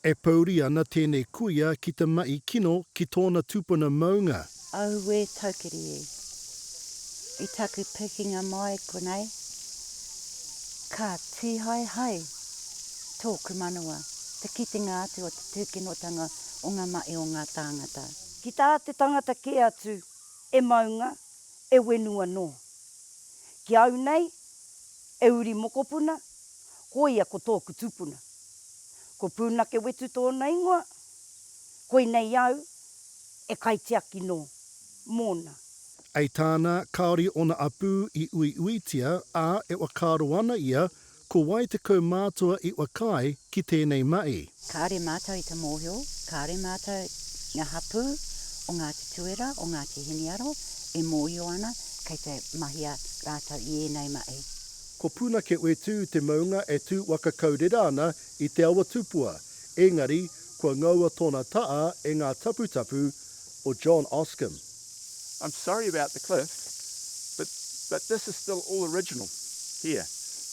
E pōuri ana tēnei kuia ki te mahi kino ki tōna tūpuna maunga. Auē taukiri e. I taku pikinga mai konei, ka tīhae hai tōku manawa te kitenga atu o te tūkinotanga o ngā mahi o ngā tāngata. Ki tā te tangata kē atu e maunga, e wenu anō. Ki au nei, e uri mokopuna, koia ko tōku tupuna. Ko Pūnake Wetu tōna ingoa, koinei au e kaitiaki nō mōna. I tāna, kāore ōna apū i uiuitia, ā, e whakaaro ana ia, ko wai te kaumātua i whakaae ki tēnei mahi. Kāore mātou i te mōhio, kāore mātou, ngā hapū o Ngāti Tuera, o Ngāti Hiniaro, e mōhio ana kei te mahia rātou i ēnei mahi. Ko Puna Ke Whetū te maunga e tū waka kau rera ana i te awa tupua, ēngari kua ngaua tōna taa e ngā taputapu o John Oscom. I'm sorry about the cliff, but but this is still all original here.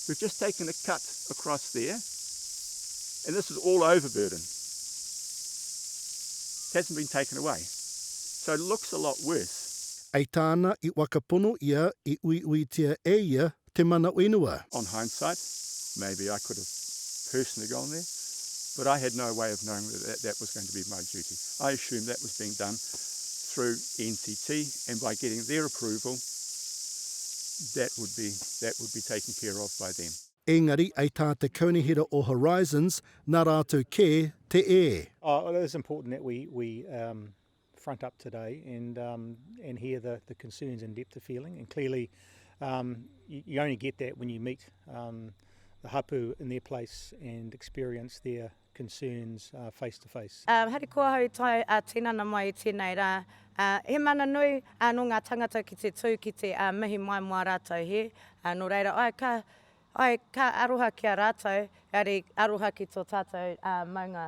We've just taken a cut across there and this is all overburden. It hasn't been taken away. So it looks a lot worse. I tāna i waka pono ia i uiuitia e ia te mana whenua. On hindsight, maybe I could have personally gone there, but I had no way of knowing that that was going to be my duty. I assumed that was being done through NTT and by getting their approval, that would be, that would be taken care of by them. Engari i tā te Kaunihera o Horizons, nā rātou kē te e. Oh, it is important that we, we, um, front up today and um, and hear the, the concerns and depth of feeling. And clearly, um, you, you, only get that when you meet um, the hapu in their place and experience their concerns uh, face to face. Uh, hari kua hau tai a uh, tinana mai tēnei rā. Uh, he mana nui uh, no ngā tangata ki te tū ki te uh, mihi mai mō a rātou he. Uh, no reira, ai ka, ai ka aroha ki a rātou, ari aroha ki tō tātou uh, maunga.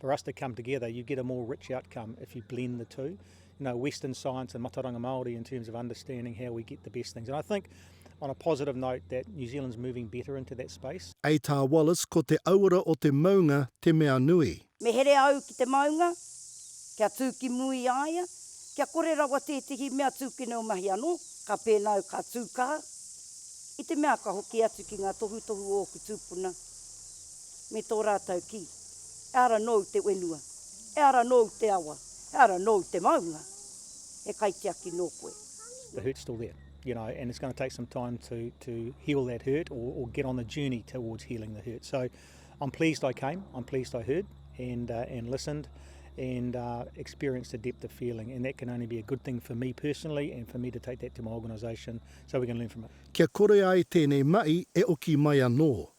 For us to come together, you get a more rich outcome if you blend the two. You know, Western science and Mataranga Māori in terms of understanding how we get the best things. And I think, on a positive note, that New Zealand's moving better into that space. A Tā Wallace, ko te auara o te maunga te mea nui. Me here au ki te maunga, kia tū ki mua i a ia, kia kore rawa tētehi mea tūkino mahi anō, ka pēnā au ka tū kā, i te mea ka hoki atu ki ngā tohutohu o ōku tūpuna. me tō rātou kī, Ehara nōu te whenua, ehara nōu te awa, ehara nōu te maunga, he kaitiaki nō koe. The hurt's still there, you know, and it's going to take some time to, to heal that hurt or, or get on the journey towards healing the hurt. So I'm pleased I came, I'm pleased I heard and, uh, and listened and uh, experienced the depth of feeling and that can only be a good thing for me personally and for me to take that to my organisation so we can learn from it. Kia kore ai tēnei mahi e oki mai anō.